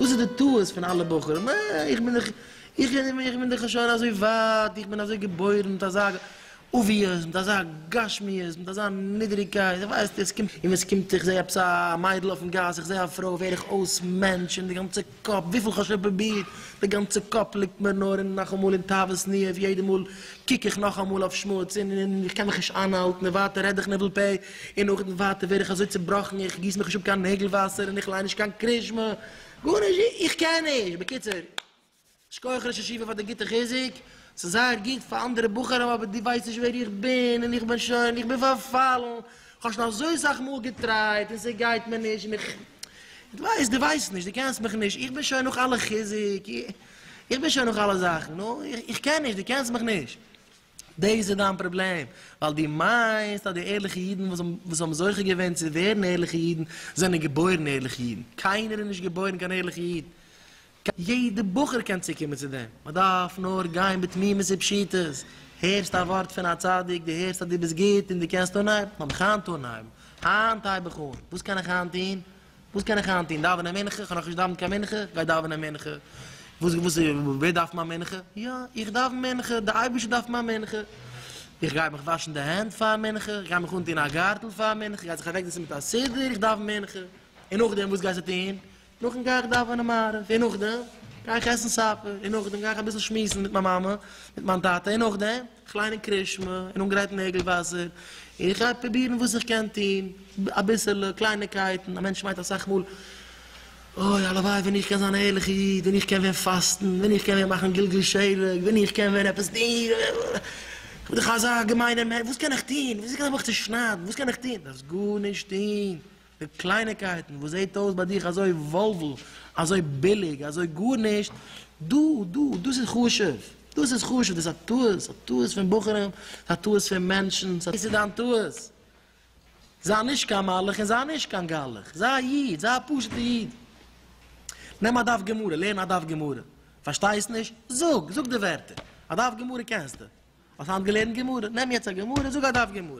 וואס איז די טעות פון אלע בחורים? אה, איך בין דאך, איך בין, איך בין דאך שוין אזוי ווייט, איך בין אזוי געבוירן מיט אזא אבוויעס, מיט אזא גשמיות, מיט אזא נידעריגקייט, איך ווייס נישט, עס קומט, און ווען עס קומט, איך זע עפעס א מיידל אויפן גאס, איך זע א פרוי, ווער איך אויס מענטש, און די גאנצע. קאפ, וויפיל כ'האב שוין פרובירט, די גאנצע קאפ ליגט מיר נאר און נאכאמאל אין תאוות ניאוף, יעדע מאל קוק איך נאכאמאל אויף שמוץ און און איך קען מיך נישט איינהאלטן און ווייטער רעד איך ניבול פה, און נאכדעם ווייטער ווער איך אזוי צובראכן איך גיס מיך נישט אפ קיין נעגל וואסער און איך ליין נישט קיין קרישמע, גארנישט, איך קען נישט, בקיצור, שכוח ראש ישיבה פאר די גוטע חיזוק, ס'איז זייער גוט פאר אנדערע בחורים אבער דו ווייסט נישט ווער איך בין און איך בין שוין, איך בין פארפאלן. כ'האב שוין אזוי סאך מאל געטרייט און ס'גייט מיר נישט, און איך. דו ווייסט, דו ווייסט נישט, דו קענסט מיך נישט, איך בין שוין נאך אלע חיזוק, איך בין שוין נאך אלע זאכן, נו, איך קען נישט, דו קענסט מיך נישט. דאס איז דיין פראבלעם, ווייל דו מיינסט אז די ערליכע אידן וואס האבן זוכה געווען צו ווערן ערליכע אידן זענען געבוירן ערליכע אידן. קיינער איז נישט געבוירן קיין ערליכע איד. יעדע בחור קען צוקומען צו דעם, מען דארף נאר גיין בתמימות ופשיטות, הערסט א ווארט פון א צדיק, דו הערסט אז דו ביסט גוט און דו קענסט אנהייבן, לאמיך היינט אנהייבן, היינט הייב איך אן, וואס קען איך היינט טון? וואס קען איך היינט טון? דאווענען מנחה? כ'האב נאכנישט געדאווענט קיין מנחה, גיי דאווענען מנחה, וואס וואס ווער דארף מיין מנחה? יא, איך דאוון מנחה, דער אייבערשטער דארף מיין מנחה, איך גיי מיך וואשן די הענט פאר מנחה, איך גיי מיך אנטון א גארטל פאר מנחה, איך גיי זיך אוועקזעצן מיט א סידור, איך דאוון מנחה, און נאכדעם וואס גייסטו טון? נאכדעם גיי איך דאווענען מעריב, און נאכדעם גיי איך עסן סאפער, און נאכדעם גיי איך אביסל שמועסן מיט מיין מאמע, מיט מיין טאטע, און נאכדעם איך ליין אין קרישמע, און אנגרייטן נעגל וואסער, און איך גיי פרובירן וואס איך קען טון, אביסעלע קלייניקייטן, א מענטש מיינט אסאך מאל, אוי הלוואי ווען איך קען זיין א ערליכע איד, ווען איך קען ווען פאסטן, ווען איך קען ווען מאכן גלגול שלג, ווען איך קען ווען עפעס טון, איך בין דאך אזא געמיינער מענטש, וואס קען איך טון, וויאזוי קען איך מיך צושניידן, וואס קען איך טון, דארפסט גארנישט טון, די קלייניקייטן וואס זעהט אויס ביי דיך אזוי וואלוול, אזוי ביליג, אזוי גארנישט, דא, דא, דאס איז חשוב, דאס איז חשוב, דאס איז א טעות, א טעות פון בחורים, ס'איז א טעות פון מענטשן, דאס איז דיין טעות, זיי נישט קיין מלאך און זיי נישט קיין גלח, זיי א איד, זיי א פשוט'ע איד, נעם א דף גמרא, לערן א דף גמרא, פארשטייסט נישט? זאג, זאג די ווערטער, א דף גמרא קענסטו, האסט היינט געלערנט גמרא, נעם יעצט א גמרא, זאג א דף גמרא.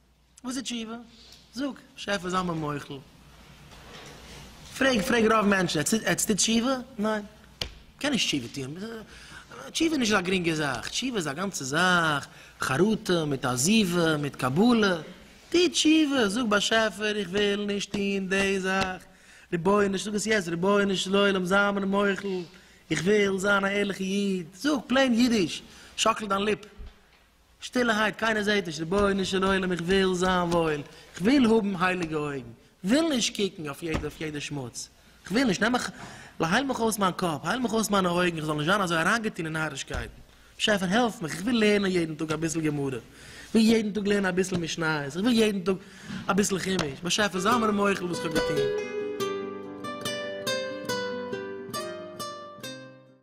וואס איז תשובה? זאג, שעפער זיי מיר מוחל. פרעג, פרעג רוב מענטשן, עטס טוט תשובה? ניין. מ'קען נישט תשובה טוען. תשובה איז נישט אזא גרינגע זאך. תשובה איז א גאנצע זאך, חרטה, מיט עזיבה, מיט קבלה. טו תשובה, זאג באשעפער איך וויל נישט טון די זאך. רבונו של, זאג עס יעצט, רבונו של עולם זיי מיר מוחל, איך וויל זיין א ערליכע איד. זאג פלעין אידיש, שאקל דיין ליפ. שטילערהייט, קיינער זעט נישט, רבונו של עולם, איך וויל זיין וואויל, איך וויל האבן הייליגע אויגן, איך וויל נישט קוקן אויף יעדע שמוץ, איך וויל נישט, נעם מיך, הייל מיך אויס מיין קאפ, הייל מיך אויס מיינע אויגן, איך זאל נישט זיין אזוי אריינגעטון אין נארישקייטן, באשעפער העלף מיך, איך וויל לערנען יעדן טאג אביסל גמרא, איך וויל יעדן טאג לערנען אביסל משניות, איך וויל יעדן טאג אביסל חומש, באשעפער זיי מיר מוחל וואס איך האב געטון.